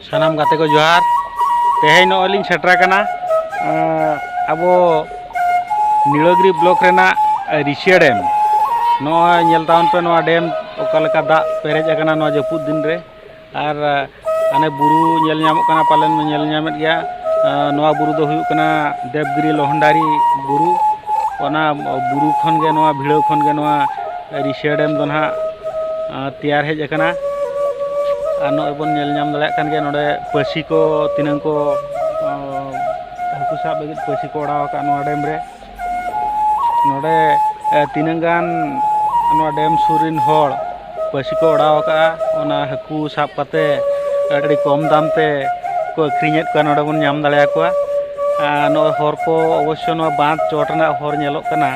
ᱥᱟᱱᱟᱢ ᱜᱟᱛᱮ ᱠᱚ ᱡᱚᱦᱟᱨ ᱛᱮᱦᱮᱧ ᱱᱚᱜᱼᱚᱭ ᱞᱤᱧ ᱥᱮᱴᱮᱨ ᱟᱠᱟᱱᱟ ᱟᱵᱚ ᱱᱤᱲᱟᱹᱜᱤᱨᱤ ᱵᱞᱚᱠ ᱨᱮᱱᱟᱜ ᱨᱤᱥᱤᱭᱟ ᱰᱮᱢ ᱱᱚᱜᱼᱚᱭ ᱧᱮᱞ ᱛᱟᱵᱚᱱ ᱯᱮ ᱱᱚᱣᱟ ᱰᱮᱢ ᱚᱠᱟ ᱞᱮᱠᱟ ᱫᱟᱜ ᱯᱮᱨᱮᱡ ᱟᱠᱟᱱᱟ ᱱᱚᱣᱟ ᱡᱟᱹᱯᱩᱫ ᱫᱤᱱ ᱨᱮ ᱟᱨ ᱦᱟᱱᱮ ᱵᱩᱨᱩ ᱧᱮᱞ ᱧᱟᱢᱚᱜ ᱠᱟᱱᱟ ᱯᱟᱞᱮᱱ ᱧᱮᱞ ᱧᱟᱢᱮᱫ ᱜᱮᱭᱟ ᱱᱚᱣᱟ ᱵᱩᱨᱩ ᱫᱚ ᱦᱩᱭᱩᱜ ᱠᱟᱱᱟ ᱫᱮᱵᱽᱜᱤᱨᱤ ᱞᱚᱦᱚᱱᱰᱟᱨᱤ ᱵᱩᱨᱩ ᱚᱱᱟ ᱵᱩᱨᱩ ᱠᱷᱚᱱ ᱜᱮ ᱱᱚᱣᱟ ᱵᱷᱤᱲᱟᱹᱣ ᱠᱷᱚᱱ ᱜᱮ ᱱᱚᱣᱟ ᱨᱤᱥᱤᱭᱟ ᱰᱮᱢ ᱫᱚ ᱱᱟᱦᱟᱜ ᱛᱮᱭᱟᱨ ᱦᱮᱡ ᱟᱠᱟᱱᱟ ᱟᱨ ᱱᱚᱜᱼᱚᱭ ᱵᱚᱱ ᱧᱮᱞ ᱧᱟᱢ ᱫᱟᱲᱮᱭᱟᱜ ᱠᱟᱱ ᱜᱮᱭᱟ ᱱᱚᱰᱮ ᱯᱟᱹᱥᱤ ᱠᱚ ᱛᱤᱱᱟᱹᱝ ᱠᱚ ᱦᱟᱹᱠᱩ ᱥᱟᱵ ᱞᱟᱹᱜᱤᱫ ᱯᱟᱹᱥᱤ ᱠᱚ ᱚᱰᱟᱣ ᱟᱠᱟᱫ ᱱᱚᱣᱟ ᱰᱮᱢ ᱨᱮ ᱱᱚᱰᱮ ᱛᱤᱱᱟᱹᱝ ᱜᱟᱱ ᱱᱚᱣᱟ ᱰᱮᱢ ᱥᱩᱨ ᱨᱮᱱ ᱦᱚᱲ ᱯᱟᱹᱥᱤ ᱠᱚ ᱚᱰᱟᱣ ᱟᱠᱟᱫᱼᱟ ᱚᱱᱟ ᱦᱟᱹᱠᱩ ᱥᱟᱵ ᱠᱟᱛᱮ ᱟᱹᱰᱤ ᱠᱚᱢ ᱫᱟᱢ ᱛᱮ ᱠᱚ ᱟᱹᱠᱷᱨᱤᱧᱮᱫ ᱠᱚᱣᱟ ᱱᱚᱰᱮ ᱵᱚᱱ ᱧᱟᱢ ᱫᱟᱲᱮᱭᱟᱠᱚᱣᱟ ᱱᱚᱜᱼᱚᱭ ᱦᱚᱨ ᱠᱚ ᱚᱵᱚᱥᱥᱚ ᱱᱚᱣᱟ ᱵᱟᱸᱫᱷ ᱪᱚᱴ ᱨᱮᱱᱟᱜ ᱦᱚᱨ ᱧᱮᱞᱚᱜ ᱠᱟᱱᱟ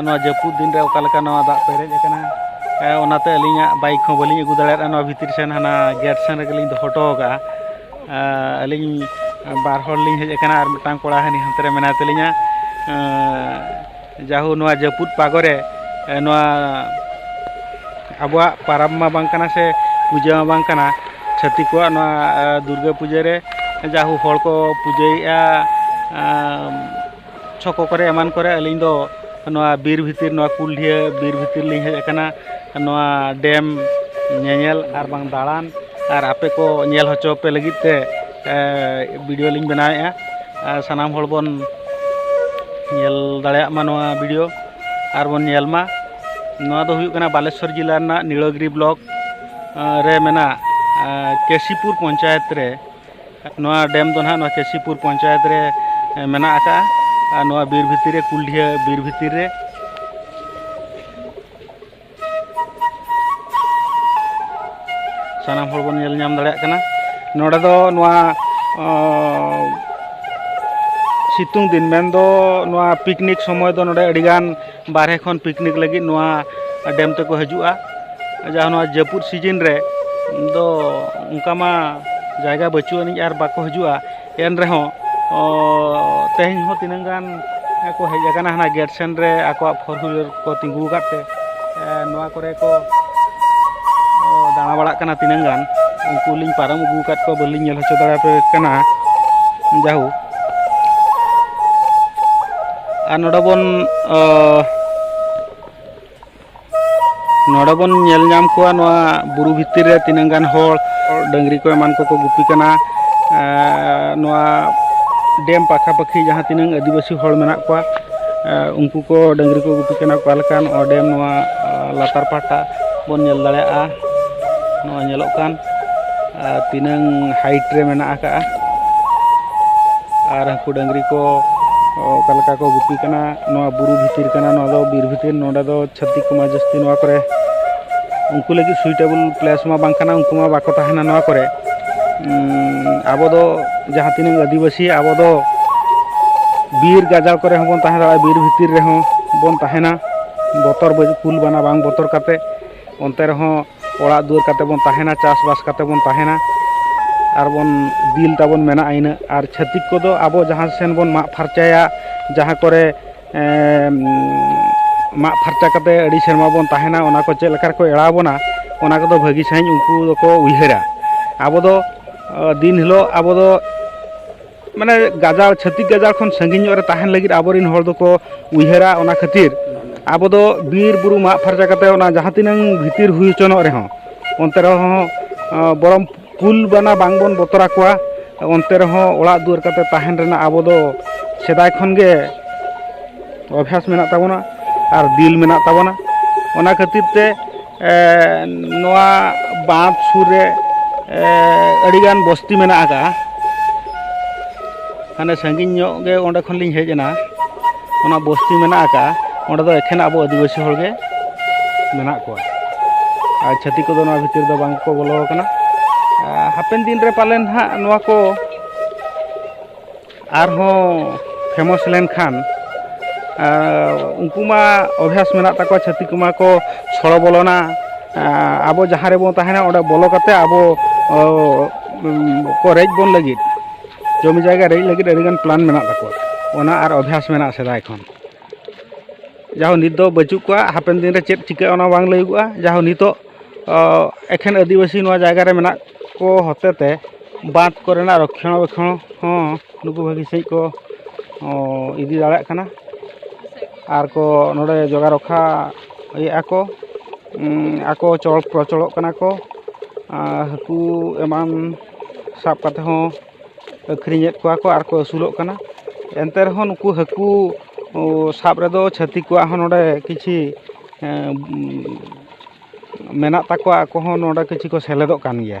ᱱᱚᱣᱟ ᱡᱟᱹᱯᱩᱫ ᱫᱤᱱ ᱨᱮ ᱚᱠᱟ ᱞᱮᱠᱟ ᱱᱚᱣᱟ ᱫᱟᱜ ᱯᱮᱨᱮᱡ ᱟᱠᱟᱱᱟ ᱚᱱᱟᱛᱮ ᱟᱹᱞᱤᱧᱟᱜ ᱵᱟᱭᱤᱠ ᱦᱚᱸ ᱵᱟᱹᱞᱤᱧ ᱟᱹᱜᱩ ᱫᱟᱲᱮᱭᱟᱫᱟ ᱱᱚᱣᱟ ᱵᱷᱤᱛᱨᱤ ᱥᱮᱱ ᱦᱟᱱᱟ ᱜᱮᱴ ᱥᱮᱱ ᱨᱮᱜᱮᱞᱤᱧ ᱫᱚᱦᱚ ᱦᱚᱴᱚ ᱟᱠᱟᱫᱼᱟ ᱟᱹᱞᱤᱧ ᱵᱟᱨ ᱦᱚᱲ ᱞᱤᱧ ᱦᱮᱡ ᱟᱠᱟᱱᱟ ᱟᱨ ᱢᱤᱫᱴᱟᱝ ᱠᱚᱲᱟ ᱦᱟᱹᱱᱤ ᱦᱟᱱᱛᱮ ᱨᱮ ᱢᱮᱱᱟᱭ ᱛᱟᱹᱞᱤᱧᱟ ᱡᱟᱦᱳ ᱱᱚᱣᱟ ᱡᱟᱹᱯᱩᱫ ᱯᱟᱜᱚ ᱨᱮ ᱱᱚᱣᱟ ᱟᱵᱚᱣᱟᱜ ᱯᱟᱨᱟᱵᱽ ᱢᱟ ᱵᱟᱝ ᱠᱟᱱᱟ ᱥᱮ ᱯᱩᱡᱟᱹ ᱢᱟ ᱵᱟᱝ ᱠᱟᱱᱟ ᱪᱷᱟᱹᱛᱤᱠ ᱠᱚᱣᱟᱜ ᱱᱚᱣᱟ ᱫᱩᱨᱜᱟᱹ ᱯᱩᱡᱟᱹ ᱨᱮ ᱡᱟᱦᱳ ᱦᱚᱲ ᱠᱚ ᱯᱩᱡᱟᱹᱭᱮᱫᱼᱟ ᱪᱷᱚᱠᱚ ᱠᱚᱨᱮ ᱮᱢᱟᱱ ᱠᱚᱨᱮ ᱟᱹᱞᱤᱧ ᱫᱚ ᱱᱚᱣᱟ ᱵᱤᱨ ᱵᱷᱤᱛᱤᱨ ᱱᱚᱣᱟ ᱠᱩᱞᱰᱷᱤᱭᱟᱹ ᱵᱤᱨ ᱵᱷᱤᱛᱤᱨ ᱞᱤᱧ ᱦᱮᱡ ᱟᱠᱟᱱᱟ ᱱᱚᱣᱟ ᱰᱮᱢ ᱧᱮᱧᱮᱞ ᱟᱨ ᱵᱟᱝ ᱫᱟᱬᱟᱱ ᱟᱨ ᱟᱯᱮ ᱠᱚ ᱧᱮᱞ ᱦᱚᱪᱚ ᱯᱮ ᱞᱟᱹᱜᱤᱫ ᱛᱮ ᱵᱷᱤᱰᱤᱭᱳ ᱞᱤᱧ ᱵᱮᱱᱟᱣᱮᱫᱼᱟ ᱟᱨ ᱥᱟᱱᱟᱢ ᱦᱚᱲ ᱵᱚᱱ ᱧᱮᱞ ᱫᱟᱲᱮᱭᱟᱜ ᱢᱟ ᱱᱚᱣᱟ ᱵᱷᱤᱰᱤᱭᱳ ᱟᱨ ᱵᱚᱱ ᱧᱮᱞ ᱢᱟ ᱱᱚᱣᱟ ᱫᱚ ᱦᱩᱭᱩᱜ ᱠᱟᱱᱟ ᱵᱟᱞᱮᱥᱚᱨ ᱡᱮᱞᱟ ᱨᱮᱱᱟᱜ ᱱᱤᱲᱚᱜᱤᱨᱤ ᱵᱞᱚᱠ ᱨᱮ ᱢᱮᱱᱟᱜ ᱠᱮᱥᱤᱯᱩᱨ ᱯᱚᱧᱪᱟᱭᱮᱛ ᱨᱮ ᱱᱚᱣᱟ ᱰᱮᱢ ᱫᱚ ᱱᱟᱦᱟᱜ ᱱᱚᱣᱟ ᱠᱮᱥᱤᱯᱩᱨ ᱯᱚᱧᱪᱟᱭᱮᱛ ᱨᱮ ᱢᱮᱱᱟᱜ ᱟᱠᱟᱫᱼᱟ ᱟᱨ ᱱᱚᱣᱟ ᱵᱤᱨ ᱵᱷᱤᱛᱤᱨ ᱨᱮ ᱠᱩᱞᱰᱤᱦᱟᱹ ᱵᱤᱨ ᱵᱷᱤᱛᱤᱨ ᱨᱮ ᱥᱟᱱᱟᱢ ᱦᱚᱲ ᱵᱚᱱ ᱧᱮᱞ ᱧᱟᱢ ᱫᱟᱲᱮᱭᱟᱜ ᱠᱟᱱᱟ ᱱᱚᱰᱮ ᱫᱚ ᱱᱚᱣᱟ ᱥᱤᱛᱩᱝ ᱫᱤᱱ ᱢᱮᱱᱫᱚ ᱱᱚᱣᱟ ᱯᱤᱠᱱᱤᱠ ᱥᱚᱢᱚᱭ ᱫᱚ ᱱᱚᱰᱮ ᱟᱹᱰᱤᱜᱟᱱ ᱵᱟᱨᱦᱮ ᱠᱷᱚᱱ ᱯᱤᱠᱱᱤᱠ ᱞᱟᱹᱜᱤᱫ ᱱᱚᱣᱟ ᱰᱮᱢ ᱛᱮᱠᱚ ᱦᱤᱡᱩᱜᱼᱟ ᱡᱟᱦᱟᱸ ᱱᱚᱣᱟ ᱡᱟᱹᱯᱩᱫ ᱥᱤᱡᱤᱱ ᱨᱮ ᱫᱚ ᱚᱱᱠᱟ ᱢᱟ ᱡᱟᱭᱜᱟ ᱵᱟᱹᱪᱩᱜ ᱟᱹᱱᱤᱡ ᱟᱨ ᱵᱟᱠᱚ ᱦᱤᱡᱩᱜᱼᱟ ᱮᱱ ᱨᱮᱦᱚᱸ ᱛᱮᱦᱮᱧ ᱦᱚᱸ ᱛᱤᱱᱟᱹᱝ ᱜᱟᱱ ᱠᱚ ᱦᱮᱡ ᱟᱠᱟᱱᱟ ᱦᱟᱱᱟ ᱜᱮᱴ ᱥᱮᱱ ᱨᱮ ᱟᱠᱚᱣᱟᱜ ᱯᱷᱳᱨ ᱦᱩᱭᱞᱟᱨ ᱠᱚ ᱛᱤᱸᱜᱩ ᱟᱠᱟᱫ ᱛᱮ ᱱᱚᱣᱟ ᱠᱚᱨᱮ ᱠᱚ ᱫᱟᱬᱟ ᱵᱟᱲᱟᱜ ᱠᱟᱱᱟ ᱛᱤᱱᱟᱹᱝ ᱜᱟᱱ ᱩᱱᱠᱩ ᱞᱤᱧ ᱯᱟᱨᱚᱢ ᱟᱹᱜᱩ ᱟᱠᱟᱫ ᱠᱚᱣᱟ ᱵᱟᱹᱞᱤᱧ ᱧᱮᱞ ᱦᱚᱪᱚ ᱫᱟᱲᱮ ᱟᱯᱮ ᱠᱟᱱᱟ ᱡᱟᱭᱦᱳᱠ ᱟᱨ ᱱᱚᱰᱮ ᱵᱚᱱ ᱱᱚᱰᱮ ᱵᱚᱱ ᱧᱮᱞ ᱧᱟᱢ ᱠᱚᱣᱟ ᱱᱚᱣᱟ ᱵᱩᱨᱩ ᱵᱷᱤᱛᱤᱨ ᱨᱮ ᱛᱤᱱᱟᱹᱝ ᱜᱟᱱ ᱦᱚᱲ ᱰᱟᱹᱝᱨᱤ ᱠᱚ ᱮᱢᱟᱱ ᱠᱚᱠᱚ ᱜᱩᱯᱤ ᱠᱟᱱᱟ ᱱᱚᱣᱟ ᱰᱮᱢ ᱯᱟᱠᱷᱟᱯᱟᱠᱷᱤ ᱡᱟᱦᱟᱸ ᱛᱤᱱᱟᱹᱝ ᱟᱹᱫᱤᱵᱟᱹᱥᱤ ᱦᱚᱲ ᱢᱮᱱᱟᱜ ᱠᱚᱣᱟ ᱩᱱᱠᱩ ᱠᱚ ᱰᱟᱹᱝᱨᱤ ᱠᱚ ᱜᱩᱯᱤ ᱠᱟᱱᱟ ᱚᱠᱟ ᱞᱮᱠᱟ ᱱᱚᱣᱟ ᱰᱮᱢ ᱱᱚᱣᱟ ᱞᱟᱛᱟᱨ ᱯᱟᱦᱴᱟ ᱵᱚᱱ ᱧᱮᱞ ᱫᱟᱲᱮᱭᱟᱜᱼᱟ ᱱᱚᱣᱟ ᱧᱮᱞᱚᱜ ᱠᱟᱱ ᱟᱨ ᱛᱤᱱᱟᱹᱝ ᱦᱟᱭᱤᱴ ᱨᱮ ᱢᱮᱱᱟᱜ ᱟᱠᱟᱫᱼᱟ ᱟᱨ ᱦᱟᱹᱠᱩ ᱰᱟᱹᱝᱨᱤ ᱠᱚ ᱚᱠᱟ ᱞᱮᱠᱟ ᱠᱚ ᱜᱩᱯᱤ ᱠᱟᱱᱟ ᱱᱚᱣᱟ ᱵᱩᱨᱩ ᱵᱷᱤᱛᱤᱨ ᱠᱟᱱᱟ ᱱᱚᱣᱟ ᱫᱚ ᱵᱤᱨ ᱵᱷᱤᱛᱤᱨ ᱱᱚᱰᱮ ᱫᱚ ᱪᱷᱟᱹᱛᱤᱠ ᱠᱚᱢᱟ ᱡᱟᱹᱥᱛᱤ ᱱᱚᱣᱟ ᱠᱚᱨᱮ ᱩᱱᱠᱩ ᱞᱟᱹᱜᱤᱫ ᱥᱩᱭᱴᱮᱵᱚᱞ ᱯᱞᱮᱥ ᱢᱟ ᱵᱟᱝ ᱠᱟᱱᱟ ᱩᱱᱠᱩ ᱢᱟ ᱵᱟᱠᱚ ᱛᱟᱦᱮᱱᱟ ᱱᱚᱣᱟ ᱠᱚᱨᱮ ᱟᱵᱚ ᱫᱚ ᱡᱟᱦᱟᱸ ᱛᱤᱱᱟᱹᱝ ᱟᱹᱫᱤᱵᱟᱹᱥᱤ ᱟᱵᱚ ᱫᱚ ᱵᱤᱨ ᱜᱟᱡᱟᱲ ᱠᱚᱨᱮ ᱦᱚᱸᱵᱚᱱ ᱛᱟᱦᱮᱸ ᱫᱟᱲᱮᱭᱟᱜᱼᱟ ᱵᱤᱨ ᱵᱷᱤᱛᱤᱨ ᱨᱮᱦᱚᱸ ᱵᱚᱱ ᱛᱟᱦᱮᱱᱟ ᱵᱚᱛᱚᱨ ᱠᱩᱞ ᱵᱟᱱᱟ ᱵᱟᱝ ᱵᱚᱛᱚᱨ ᱠᱟᱛᱮᱫ ᱚᱱᱛᱮ ᱨᱮᱦᱚᱸ ᱚᱲᱟᱜ ᱫᱩᱣᱟᱹᱨ ᱠᱟᱛᱮ ᱵᱚᱱ ᱛᱟᱦᱮᱱᱟ ᱪᱟᱥ ᱵᱟᱥ ᱠᱟᱛᱮ ᱵᱚᱱ ᱛᱟᱦᱮᱱᱟ ᱟᱨ ᱵᱚᱱ ᱫᱤᱞ ᱛᱟᱵᱚᱱ ᱢᱮᱱᱟᱜᱼᱟ ᱤᱱᱟᱹᱜ ᱟᱨ ᱪᱷᱟᱹᱛᱤᱠ ᱠᱚᱫᱚ ᱟᱵᱚ ᱡᱟᱦᱟᱸ ᱥᱮᱱ ᱵᱚᱱ ᱢᱟᱜ ᱯᱷᱟᱨᱪᱟᱭᱟ ᱡᱟᱦᱟᱸ ᱠᱚᱨᱮ ᱢᱟᱜ ᱯᱷᱟᱨᱪᱟ ᱠᱟᱛᱮ ᱟᱹᱰᱤ ᱥᱮᱨᱢᱟ ᱵᱚᱱ ᱛᱟᱦᱮᱱᱟ ᱚᱱᱟ ᱠᱚ ᱪᱮᱫ ᱞᱮᱠᱟ ᱨᱮᱠᱚ ᱮᱲᱟᱣ ᱵᱚᱱᱟ ᱚᱱᱟ ᱠᱚᱫᱚ ᱵᱷᱟᱹᱜᱤ ᱥᱟᱺᱦᱤᱡ ᱩᱱᱠᱩ ᱫᱚᱠᱚ ᱩᱭᱦᱟᱹᱨᱟ ᱟᱵᱚ ᱫᱚ ᱫᱤᱱ ᱦᱤᱞᱳᱜ ᱟᱵᱚ ᱫᱚ ᱢᱟᱱᱮ ᱜᱟᱡᱟᱲ ᱪᱷᱟᱹᱛᱤᱠ ᱜᱟᱡᱟᱲ ᱠᱷᱚᱱ ᱥᱟᱺᱜᱤᱧ ᱧᱚᱜ ᱨᱮ ᱛᱟᱦᱮᱱ ᱞᱟᱹᱜᱤᱫ ᱟᱵᱚᱨᱮᱱ ᱦᱚᱲ ᱫᱚᱠᱚ ᱩᱭᱦᱟᱹᱨᱟ ᱚᱱᱟ ᱠᱷᱟᱹᱛᱤᱨ ᱟᱵᱚ ᱫᱚ ᱵᱤᱨ ᱵᱩᱨᱩ ᱢᱟᱜ ᱯᱷᱟᱨᱪᱟ ᱠᱟᱛᱮ ᱚᱱᱟ ᱡᱟᱦᱟᱸ ᱛᱤᱱᱟᱹᱝ ᱵᱷᱤᱛᱤᱨ ᱦᱩᱭ ᱦᱚᱪᱚᱱᱚᱜ ᱨᱮᱦᱚᱸ ᱚᱱᱛᱮ ᱨᱮᱦᱚᱸ ᱵᱚᱨᱚᱝ ᱠᱩᱞ ᱵᱟᱱᱟ ᱵᱟᱝ ᱵᱚᱱ ᱵᱚᱛᱚᱨ ᱟᱠᱚᱣᱟ ᱚᱱᱛᱮ ᱨᱮᱦᱚᱸ ᱚᱲᱟᱜ ᱫᱩᱣᱟᱹᱨ ᱠᱟᱛᱮ ᱛᱟᱦᱮᱱ ᱨᱮᱱᱟᱜ ᱟᱵᱚ ᱫᱚ ᱥᱮᱫᱟᱭ ᱠᱷᱚᱱ ᱜᱮ ᱚᱵᱷᱟᱥ ᱢᱮᱱᱟᱜ ᱛᱟᱵᱚᱱᱟ ᱟᱨ ᱫᱤᱞ ᱢᱮᱱᱟᱜ ᱛᱟᱵᱚᱱᱟ ᱚᱱᱟ ᱠᱷᱟᱹᱛᱤᱨ ᱛᱮ ᱱᱚᱣᱟ ᱵᱟᱸᱫᱽ ᱥᱩᱨ ᱨᱮ ᱟᱹᱰᱤᱜᱟᱱ ᱵᱚᱥᱛᱤ ᱢᱮᱱᱟᱜ ᱟᱠᱟᱫᱼᱟ ᱦᱟᱱᱮ ᱥᱟᱺᱜᱤᱧ ᱧᱚᱜ ᱜᱮ ᱚᱸᱰᱮ ᱠᱷᱚᱱ ᱞᱤᱧ ᱦᱮᱡ ᱮᱱᱟ ᱚᱱᱟ ᱵᱚᱥᱛᱤ ᱢᱮᱱᱟᱜ ᱟᱠᱟᱫᱼᱟ ᱚᱸᱰᱮ ᱫᱚ ᱮᱠᱷᱮᱱ ᱟᱵᱚ ᱟᱹᱫᱤᱵᱟᱹᱥᱤ ᱦᱚᱲ ᱜᱮ ᱢᱮᱱᱟᱜ ᱠᱚᱣᱟ ᱟᱨ ᱪᱷᱟᱹᱛᱤᱠ ᱠᱚᱫᱚ ᱱᱚᱣᱟ ᱵᱷᱤᱛᱤᱨ ᱫᱚ ᱵᱟᱝ ᱠᱚ ᱵᱚᱞᱚ ᱟᱠᱟᱱᱟ ᱦᱟᱯᱮᱱ ᱫᱤᱱ ᱨᱮ ᱯᱟᱞᱮᱱ ᱦᱟᱸᱜ ᱱᱚᱣᱟ ᱠᱚ ᱟᱨᱦᱚᱸ ᱯᱷᱮᱢᱚᱥ ᱞᱮᱱᱠᱷᱟᱱ ᱩᱱᱠᱩ ᱢᱟ ᱚᱵᱷᱭᱟᱥ ᱢᱮᱱᱟᱜ ᱛᱟᱠᱚᱣᱟ ᱪᱷᱟᱹᱛᱤᱠ ᱠᱚᱢᱟ ᱠᱚ ᱥᱚᱲᱚ ᱵᱚᱞᱚᱱᱟ ᱟᱵᱚ ᱡᱟᱦᱟᱸ ᱨᱮᱵᱚᱱ ᱛᱟᱦᱮᱱᱟ ᱚᱸᱰᱮ ᱵᱚᱞᱚ ᱠᱟᱛᱮᱫ ᱟᱵᱚ ᱠᱚ ᱨᱮᱡ ᱵᱚᱱ ᱞᱟᱹᱜᱤᱫ ᱡᱚᱢᱤ ᱡᱟᱭᱜᱟ ᱨᱮᱡ ᱞᱟᱹᱜᱤᱫ ᱟᱹᱰᱤ ᱜᱟᱱ ᱯᱞᱟᱱ ᱢᱮᱱᱟᱜ ᱛᱟᱠᱚᱣᱟ ᱚᱱᱟ ᱟᱨ ᱚᱵᱷᱭᱟᱥ ᱢᱮᱱᱟᱜᱼᱟ ᱥᱮᱫᱟᱭ ᱠᱷᱚᱱ ᱡᱟᱦᱳ ᱱᱤᱛ ᱫᱚ ᱵᱟᱹᱪᱩᱜ ᱠᱚᱣᱟ ᱦᱟᱯᱮᱱ ᱫᱤᱱ ᱨᱮ ᱪᱮᱫ ᱪᱤᱠᱟᱹᱜᱼᱟ ᱚᱱᱟ ᱵᱟᱝ ᱞᱟᱹᱭᱟᱹᱜᱚᱜᱼᱟ ᱡᱟᱦᱳ ᱱᱤᱛᱚᱜ ᱮᱠᱷᱮᱱ ᱟᱹᱫᱤᱵᱟᱹᱥᱤ ᱱᱚᱣᱟ ᱡᱟᱭᱜᱟ ᱨᱮ ᱢᱮᱱᱟᱜ ᱠᱚ ᱦᱚᱛᱮ ᱛᱮ ᱵᱟᱸᱫᱽ ᱠᱚᱨᱮᱱᱟᱜ ᱨᱚᱠᱷᱚᱱᱟ ᱵᱮᱠᱷᱚᱱ ᱦᱚᱸ ᱱᱩᱠᱩ ᱵᱷᱟᱹᱜᱤ ᱥᱟᱺᱦᱤᱡ ᱠᱚ ᱤᱫᱤ ᱫᱟᱲᱮᱭᱟᱜ ᱠᱟᱱᱟ ᱟᱨ ᱠᱚ ᱱᱚᱰᱮ ᱡᱚᱜᱟᱣ ᱨᱚᱠᱷᱟ ᱮᱫᱼᱟ ᱠᱚ ᱟᱠᱚ ᱪᱚᱞ ᱯᱨᱚᱪᱚᱞᱚᱜ ᱠᱟᱱᱟ ᱠᱚ ᱟᱨ ᱦᱟᱹᱠᱩ ᱮᱢᱟᱱ ᱥᱟᱵ ᱠᱟᱛᱮᱫ ᱦᱚᱸ ᱟᱹᱠᱷᱨᱤᱧᱮᱫ ᱠᱚᱣᱟ ᱠᱚ ᱟᱨ ᱠᱚ ᱟᱹᱥᱩᱞᱚᱜ ᱠᱟᱱᱟ ᱮᱱᱛᱮ ᱨᱮᱦᱚᱸ ᱱᱩᱠᱩ ᱦᱟᱹᱠᱩ ᱥᱟᱵ ᱨᱮᱫᱚ ᱪᱷᱟᱹᱛᱤᱠ ᱠᱚᱣᱟᱜ ᱦᱚᱸ ᱱᱚᱰᱮ ᱠᱤᱪᱷᱤ ᱢᱮᱱᱟᱜ ᱛᱟᱠᱚᱣᱟ ᱟᱠᱚ ᱦᱚᱸ ᱱᱚᱰᱮ ᱠᱤᱪᱷᱩ ᱠᱚ ᱥᱮᱞᱮᱫᱚᱜ ᱠᱟᱱ ᱜᱮᱭᱟ